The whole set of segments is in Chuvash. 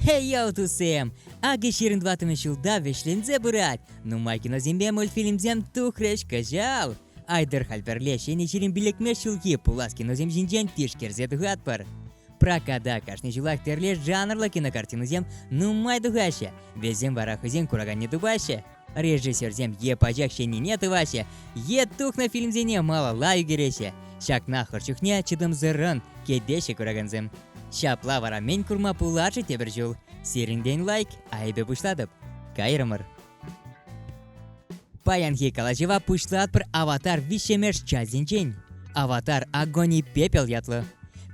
Хей-йоу, тусем! Акӑ ҫирӗн тӑваттӑмӗш ҫулта вӗҫленсе пырать. Нумай киносемпе мультфильмсем тухрӗҫ кӑҫал. Айтӑр халь пӗрле ҫӗнӗ ҫирӗм пиллӗкмеш ҫулхи пулас киносем ҫинчен тишкерсе тухатпӑр. Проката кашни ҫулах тӗрлӗ жанрлӑ кинокартинӑсем нумай тухаҫҫӗ. Вӗсем вара хӑйсен кураканне тупаҫҫӗ, Режиссерсем е пачах ҫӗннине тӑваҫҫӗ, е тухнӑ фильмсене малалла ӳкереҫҫӗ. Ҫакна хӑш чухне чӑтӑмсӑррӑн кӗтеҫҫӗ куракансем. Ҫапла вара мӗн курма пулать-ши тепӗр ҫул? Сирӗнтен лайк, айӑпӗ пуҫлатӑп. Кайрӑмӑр. Паянхи калаҫӑва пуҫлатпӑр Аватар виҫҫӗмеш частӗнчен. Аватар Огонь и пепел ятлӑ.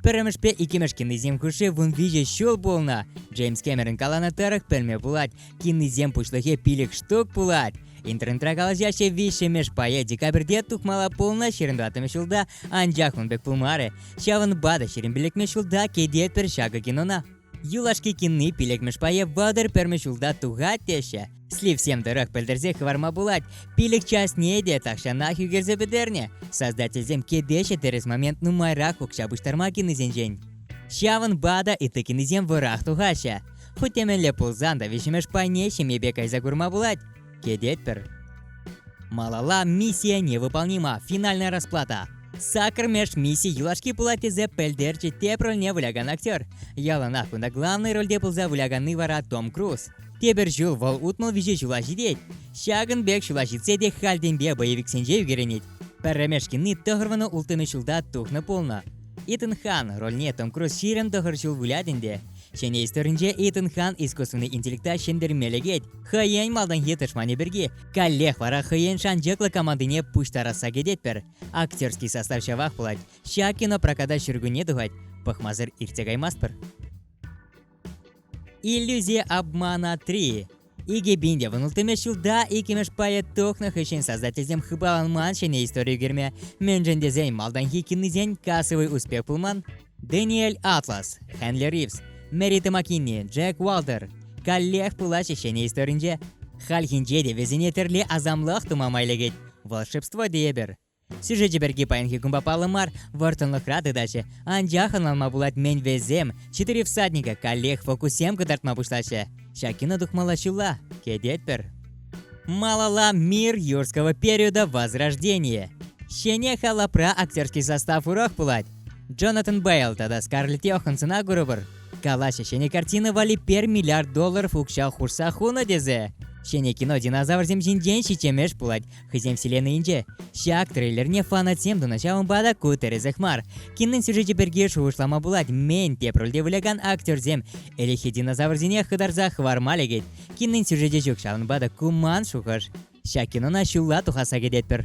Пӗрремӗшпе иккӗмӗш кинисем хушши вун виҫӗ ҫул пулнӑ. Джеймс Кэмерон каланӑ тӑрӑх пӗлме пулать, Кинисем пуҫлӑхӗ пилӗк штук пулать. Интернетра калаҫаҫҫӗ виҫҫӗмӗш пайӗ декабрьте тухмалла пулнӑ ҫирӗн тӑваттӑмӗш ҫулта, анчах ун пек пулмарӗ. Ҫавӑнпа та ҫирӗн пиллӗкмӗш ҫулта кӗтет пӗр ҫакӑ кинона. Юлашки кинни пилӗкмӗш пайӗ вӑтӑр пӗрмӗш ҫулта тухать теҫҫӗ. Сливсем тӑрӑх пӗлтерсе хӑварма пулать, пилӗк частне те тахҫанах ӳкерсе пӗтернӗ. Создательсем кӗтеҫҫӗ тӗрӗс момент нумайрах укҫа пуҫтарма кинисенчен. Ҫавӑнпа та ытти кинисем вӑрах тухаҫҫӗ. Хуть темелле пулсан та виҫӗмӗш пайне ҫемьепе кайса курма пулать, кӗтетпӗр. Малалла миссия невыполнима, финальная расплата. Сакӑр меж мисси юлашки пулать тесе пӗлтерчӗ тепӗр рольне вылякан актер. Яланах кунта главнӑй рольте пулса выляканни вара Том Круз. Тепӗр ҫул вӑл утмӑл виҫе ҫула ҫитет. Ҫакӑн пек ҫула ҫитсе те хальтенпе боевиксенче ӳкерӗнет. Пӗрремеш кинни тӑхӑрвӑна улттӑмӗш ҫулта тухнӑ пулнӑ. Итан Хан рольне Том Круз ҫирӗм тӑхӑр ҫул вылять ӗнтӗ. Ҫӗнӗ историнче Итан хан искусственный интеллекта ҫӗнтерме лекет. Хӑйен малтанхи тӑшманӗ пирки. Каллех вара хӑйен шанчӑклӑ командине пуҫтарасса кӗтетпӗр. Актерский состав ҫавах пулать. Ҫак кинопроката ҫуркунне тухать. Пӑхмасӑр иртсе каймастпӑр. Иллюзия обмана 3 Икӗ пин те вӑтӑлтӑмӗш ҫулта иккӗмӗш пайӗ тухнӑ хыҫҫӑн создательсем хыпаланман ҫӗнӗ истори ӳкерме, мӗншӗн тесен малтанхи кинисен кассовый успех пулман. Дэниэль Атлас, Хенли Ривз, Мэри Томакини, Джек Уалтер каллех пулаҫҫӗ ҫӗнӗ историнче. Хальхинче те вӗсене тӗрлӗ асамлӑх тума май лекет. Волшебство тейӗпӗр. Сюжечӗ пирки паянхи кунпа паллӑ мар, вӑрттӑнлӑхра тытаҫҫӗ. Анчах ӑнланма пулать мӗн-весем Четыре всадника каллех фокуссем кӑтартма пуҫлаҫҫӗ. Ҫак кино тухмалла ҫулла, кӗтетпӗр. Малала мир юрского периода Возрождения. Ҫӗнӗ халапра актерский состав урах пулать. Джонатан Бейл тата Скарлетт Йохансона курӑпӑр. Калаҫҫӗ ҫӗнӗ картина валли пер миллиард долларов укҫа хушса хунӑ тесе. Ҫӗнӗ кино динозаврсем ҫинчен ҫиччемеш пулать, Хӑйсен вселеннӑйӗнче ҫак трейлерне фанатсем тунӑ ҫавӑнпа та ку тӗрӗсех мар. Киннин сюжечӗ пирки шухӑшлама пулать, мӗн теп рольте вылякан актерсем ӗлӗкхи динозаврсене хытарса хӑварма лекет. Киннин сюжечӗ ҫук, ҫавӑнпа та ку ман шухӑш. Ҫак кинона ҫулла тухасса кӗтетпӗр.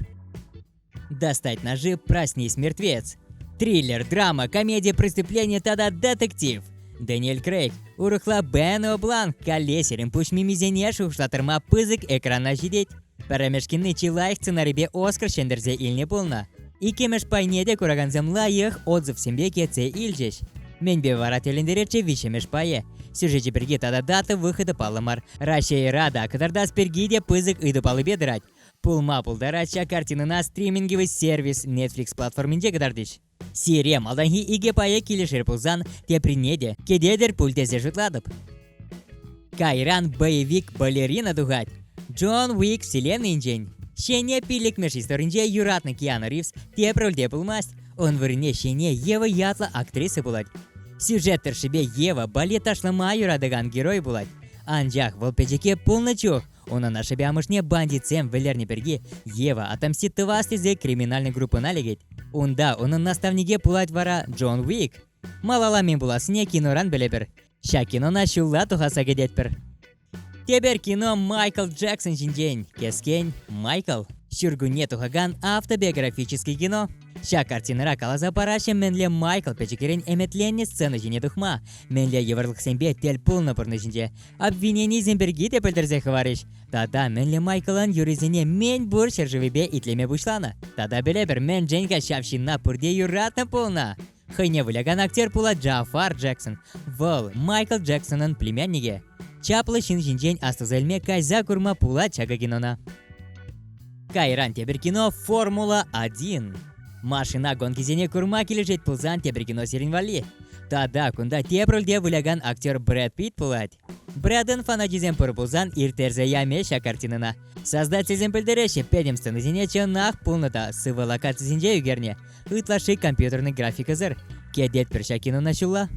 Достать ножи, проснись мертвец. Триллер, драма, комедия, преступление тата детектив. Дэниел Крейг, урӑхла Бен Облан, калле сирӗн пуҫ мимисене шухӑшлаттарма пысӑк экрана ҫитет. Пӗрремӗш кинне чи лайӑх сценарипе Оскар ҫӗнтерсе илнӗ пулнӑ. Иккӗмӗш пайне те куракансем лайӑх отзывсемпе кӗтсе илчӗҫ. Менпе вара тӗлӗнтеретчӗ виҫҫӗмӗш пайӗ. Сюжечӗ пирки тата дата выходӗ паллӑ мар. Раҫҫейра та, кӑтартас пирки те пысӑк ыйту паллипе тӑрать. Пулма пултарать ҫак картинӑна стриминговый сервис Netflix платформинче кӑтартӗҫ. Сире малтанхи икӗ пайӗ килӗшер пулсан, теприне те кӗтетӗр пуль тесе шутлатӑп. Кайран боевик балерина тухать. Джон Уик вселеннинчен. Ҫене пиллӗкмӗш историнче юратнӑ Киану Ривз тепӗр рольте пулмасть. Ун вырӑнне ҫене Ева ятлӑ актриса пулать. Сюжет тӑршшӗпе Ева балет ташлама юратакан герой пулать. Анчах вӑл пӗчӗке пулнӑ чух Унӑн ашшӗпе амӑшне бандитсем вӗлернӗ пирки Ева отомстит тӑвас тесе криминальнӑй группӑна лекет. Унта унӑн наставнике пулать вара Джон Уик. Малала мӗн пулассине киноран пӗлӗпӗр. Ҫак кинона ҫулла тухаса кӗтетпӗр. Тепер кино Майкл Джексон ҫинчен. Кескен Майкл. Ҫуркунне тухакан автобиографический кино Ҫак картинӑра каласа параҫҫӗ мӗнле Майкл пӗчӗкрен ӗмӗтленнӗ сцена ҫине тухма, мӗнле йывӑрлӑхсемпе тӗл пулнӑ пурнӑҫӗнче, обвиненисем пирки те пӗлтерсе хӑварӗҫ. Тата мӗнле Майклӑн юррисене мӗн пур ҫӗршывӗпе итлеме пуҫланӑ. Тата пӗлепӗр, мӗншӗн-ха ҫав ҫынна пурте юратнӑ пулнӑ? Хӑйне вылякан актер пулать Джафар Джексон. Вӑл Майкл Джексонӑн племянникӗ. Чаплӑ ҫын ҫинчен аслӑса илме кайса курма пулать ҫакӑ кинона. Кайран тепӗр кино Формула 1. Машина гонкисене курма килӗшет пулсан тепӗр кино сирӗн валли. Тата кунта тепӗр рольте вылякан актер Брэд Питт пулать. Бряден фанатисем пур пулсан, ирттерсе яме ҫак картинӑна. Создательсем пӗлтереҫҫӗ, пӗтӗм сценӑсене чӑнах пулнӑ та сывӑ локацисенче ӳкернӗ. Ытлашши компьютерный графикӑсӑр. Кӗтетпӗр ҫак кинона ҫулла.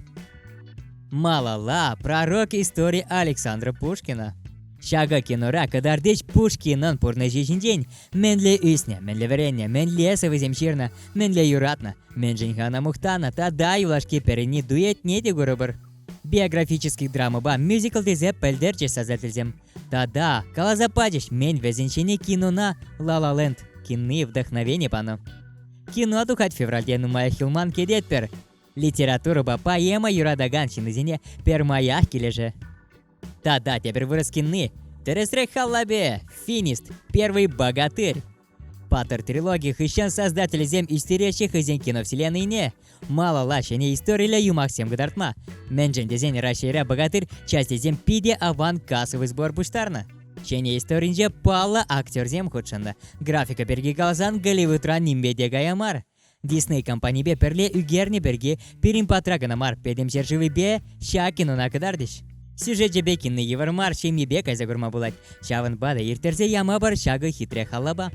Малалла пророк истори Александра Пушкина. Ҫакӑ кинора кӑтартич Пушкинӑн пурнӑҫӗ ҫинчен. Мӗнле ӳснӗ, мӗнле вӗреннӗ, мӗнле сӑвӑсем ҫырнӑ, мӗнле юратнӑ, мӗншӗн хана мухтанӑ тата юлашки пӗринни дуэтне те курӑпӑр. биографический драмӑпа мюзикл тесе пӗлтерчӗҫ сасартисем. Тата, каласа пачӗҫ мӗн вӗсен ҫине кинона Ла Ла Ленд кинные вдохновения панӑ. Кино тухать февральте нумаях юлман кӗтетпӗр. Литературӑпа поэма юратакан ҫыннисене пермаях килӗшӗ. Тата тепӗр вырӑс кинни. Тӗрӗсрех халлапе, финист, первый богатырь, Паттӑр трилоги хыҫҫӑн создателӗсем ӳстереҫҫӗ хӑйсен киновселеннӑйне. Малалла ҫӗнӗ историллӗ юмахсем кӑтартма. Мӗншӗн тесен Раҫҫейра богатырь частьсем питӗ аван кассовый сбор пуҫтарнӑ. Ҫӗнӗ историнче паллӑ актерсем хутшӑннӑ. Графика пирки каласан Голливудра нимпе те кая мар. Дисней компанипе пӗрле ӳкернӗ пирки пирӗн патра кӑна мар, пӗтӗм ҫӗршывӗпе Щакинона кӑтартӗҫ. Сюжечӗпе кинне йывӑр мар ҫемьепе кайса курма пулать, ҫавӑнпа та ирттерсе ямӑпӑр ҫакӑ хитре халапа.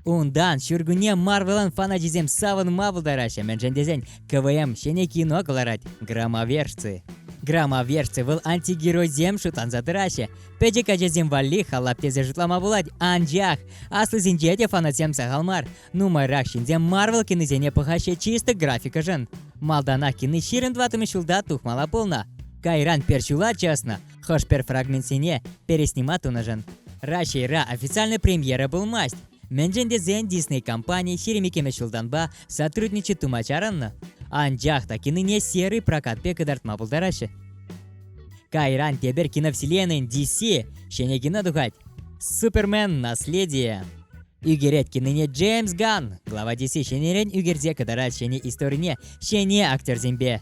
Унтан ҫуркунне Марвелӑн фаначисем савӑнма пултараҫҫӗ, мӗншӗн тесен КВМ ҫӗнӗ кино кӑларать «Громоверцы». Громоверцы вӑл антигеройсем шутланса тӑраҫҫӗ. Пӗчӗк ачасем валли халап тесе шутлама пулать, анчах аслисенче те фанатсем сахал мар. Нумайрах ҫынсем Марвел кинисене пӑхаҫҫӗ чисто графикӑшӑн. Малтанах кини ҫирӗм тӑваттӑмӗш ҫулта тухмала пулнӑ. Кайран пер ҫула чӑснӑ, хӑш-пӗр фрагментсене переснима тунӑшӑн. Раҫҫейра официальнӑй премьера пулмасть. Мӗншӗн тесен Дисней компани ҫирӗм иккӗмӗш ҫултанпа сотрудничать тума чарӑннӑ. Анчах та кинине серый прокат пек кӑтартма пултараҫҫӗ. Кайран тепер киновселенӑйӗн DC ҫӗнӗ кино тухать. Супермен наследие. Ӳкерет кинине Джеймс Ганн. Глава 10 ҫӗнӗрен ӳкерсе кӑтарать ҫӗнӗ историне ҫӗнӗ актерсемпе.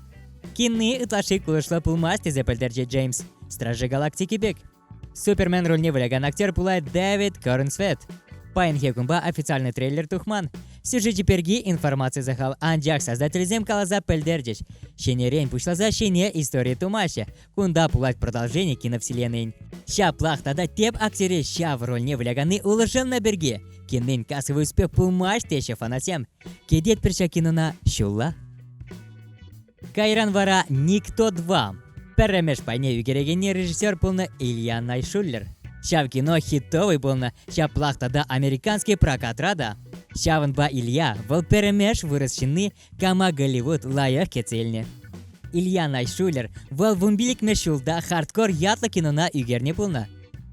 Кинни ытлашши кулӑшлӑ пулмасть тесе пӗлтерчӗ Джеймс. Стражи галактики пек. Супермен рольне вылякан актер пулать Дэвид Корнсвет. Паянхи кунпа официальный трейлер тухман. Сюжечӗ пирки информаци сахал, анчах создательсем каласа пӗлтерчӗҫ. Ҫӗнӗрен пуҫласа ҫӗнӗ истори тумаҫҫӗ. Кунта пулать продолжение киновселеннин. Ҫаплах тата теп актері ҫав рольне выляканни улшӑннӑ пирки киннин кассовый успех пулмасть теҫҫӗ фанатсем. Кӗтетпӗр ҫак кинона ҫулла. Кайран вара Никто 2. Пӗрремеш пайне ӳкерекенни режиссер пулнӑ Илья Найшуллер. Ҫав кино хитовый пулнӑ, ҫаплах тата американский прокатра та. Ҫавӑнпа Илья вӑл пӗрремеш вырӑс ҫынни Кама Голливуд лайӑх кӗтселнӗ. Ильяна Шулер вӑл вунпиллӗкмӗш ҫулта хардкор ятлӑ кинона ӳкернӗ пулнӑ.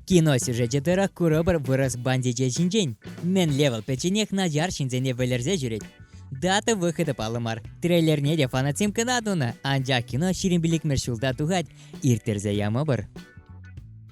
Кино сюжечӗ тӑрӑх курӑпӑр вырӑс бандичӗ ҫинчен. Мӗнле вӑл пӗчченех начар ҫынсене вӗлерсе ҫӳрет. Дата выходӗ паллӑ мар. Трейлерне те фанатсем кӑна тунӑ, анчах кино ҫирӗм пиллӗкмӗш ҫулта тухать, ирттерсе ямӑпӑр.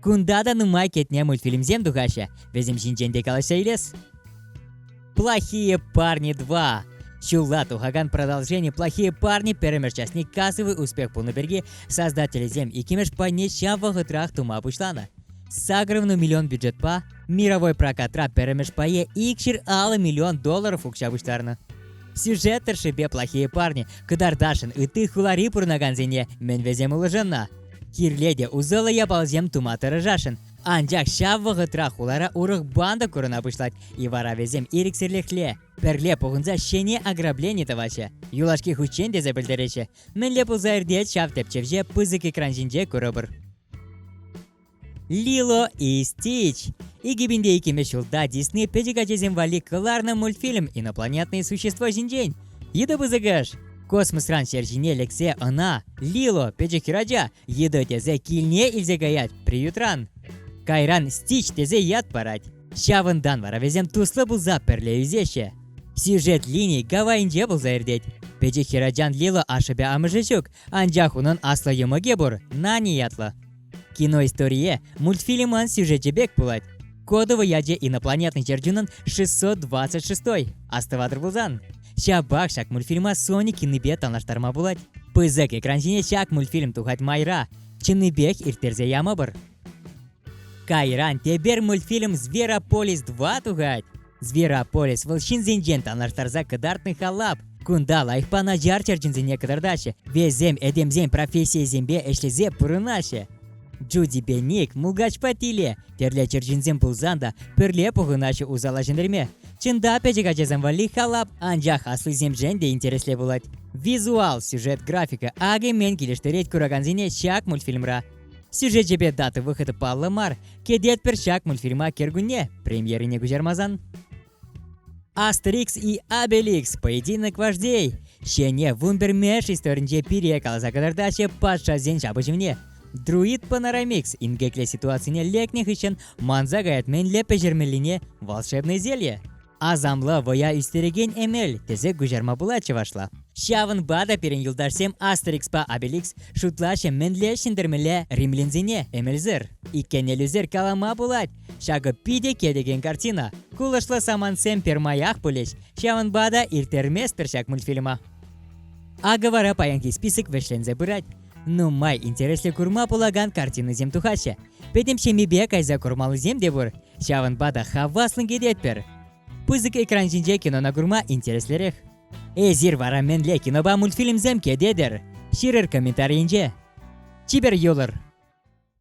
Кунта та нумай кӗтне мультфильмсем тухаҫҫӗ. Вӗсем ҫинчен те калаҫса илес. Плохие парни 2. Ҫулла тухакан продолжение «Плохие парни» пӗрремӗш частне кассовый успех пулнӑ пирки создателӗсем иккӗмӗш пайне ҫав вӑхӑтрах тума пуҫланӑ. Сакӑрвӑну миллион бюджетпа мировой прокатра пӗрремӗш пае икҫӗр аллӑ миллион долларов укҫа пуҫтарнӑ. Сюжет тӑршшӗпе плохие парни кӑтартасшӑн ытти хулари пурӑнакансене мӗн вӗсем улшӑннӑ? Кирле те усӑллӑ япаласем тума тӑрӑшасшӑн. Анчах ҫав вӑхӑтра хулара урӑх банда курӑна пуҫлать, и вара вӗсем ирӗксӗрлӗхле пӗрле пухӑнса ҫӗнӗ ограблени тӑваҫҫӗ. Юлашки хутчен тесе пӗлтереҫҫӗ. Мӗнле пулса иртет ҫав тӗпчевҫе пысӑк экран ҫинче курӑпӑр. Лило и Стич. 2002 ҫулта Дисней пӗчӗк ачасем валли кӑларнӑ мультфильм инопланетные существа ҫинчен. Йытӑ пысӑкӑш! Космосран ҫер ҫине лексе ӑна, Лило, пӗчӗк хӗрача, йытӑ тесе килне илсе каять приютран. Кайран Стич тесе ят парать. Ҫавӑнтан вара вӗсем туслӑ пулса пӗрле ӳсеҫҫӗ. Сюжет лини гавайӗнче пулса иртет. Пӗчӗк хӗрачан Лило ашшӗпе амӑшӗ ҫук, Анчах унӑн аслӑ йӑмӑкӗ пур, Нани ятлӑ. Киноисторие мультфильмӑн сюжечӗ пек пулать. Кодово ячӗ инопланетный чӗрчунӑн 626 астӑватӑр пулсан. Ҫапах ҫак мультфильма Соник кинипе танлаштарма пулать. Пысӑк экран ҫине ҫак мультфильм тухать майра. Чӑннипех ирттерсе ямӑпӑр. Кайран тепер мультфильм Зверополис 2 тухать. Зверополис вӑл ҫынсенчен танлаштарса кӑтартнӑ халап. Кунта лайӑхпа начар черченсене кӑтартаҫҫӗ, вӗсем этемсен профессийӗсемпе ӗҫлесе пурӑнаҫҫӗ. Джуди Беник мулкачпа тиле, тӗрлӗ черченсем пулсан та пӗрле пухӑнаҫҫӗ усала ҫӗнтерме. Чӑнта пӗчӗк ачасем валли халап, анчах аслисемшӗн те интереслӗ пулать. Визуал, сюжет, графика, акӗ мӗн килӗштерет куракансене ҫак мультфильмра. Сюжечӗпе дата вӑхӑтӗ паллӑ мар. Кӗтетпӗр ҫак мультфильма кӗркунне премьерине куҫармасан. Астерикс и Обеликс поединок вождей ҫене вундермеш историнче пире каласа кӑтартаҫҫӗ патшасен ҫапӑҫӑвне. Друид панорамикс инкекле ситуацине лекнӗ хыҫҫӑн манса каять мӗнле пӗҫермеллине волшебное зелье. Асамлӑ вӑя ӳстерекен эмел тесе куҫарма пулать чӑвашла. Ҫавӑнпа та пирӗн юлташсем Астерикспа Обеликс шутлаҫҫӗ мӗнле ҫӗнтермелле римлянсене эмелсӗр. Иккенеллисӗр калама пулать, ҫакӑ питӗ кӗтекен картина. Кулӑшлӑ самантсем пермаях пулӗҫ, ҫавӑнпа та ирттерместпӗр ҫак мультфильма. Акӑ вара паянхи список вӗҫленсе пырать. Нумай интереслӗ курма пулакан картинӑсем тухаҫҫӗ. Пӗтӗм ҫемйипе кайса курмаллисем те пур. Ҫавӑнпа та хаваслӑн кӗтетпӗр. Пысӑк экран ҫинче кинона курма интереслӗрех. Эсир вара мӗнле кинопа мультфильмсем кӗтетӗр? Ҫырӑр комментарийӗнче. Чипер юлӑр!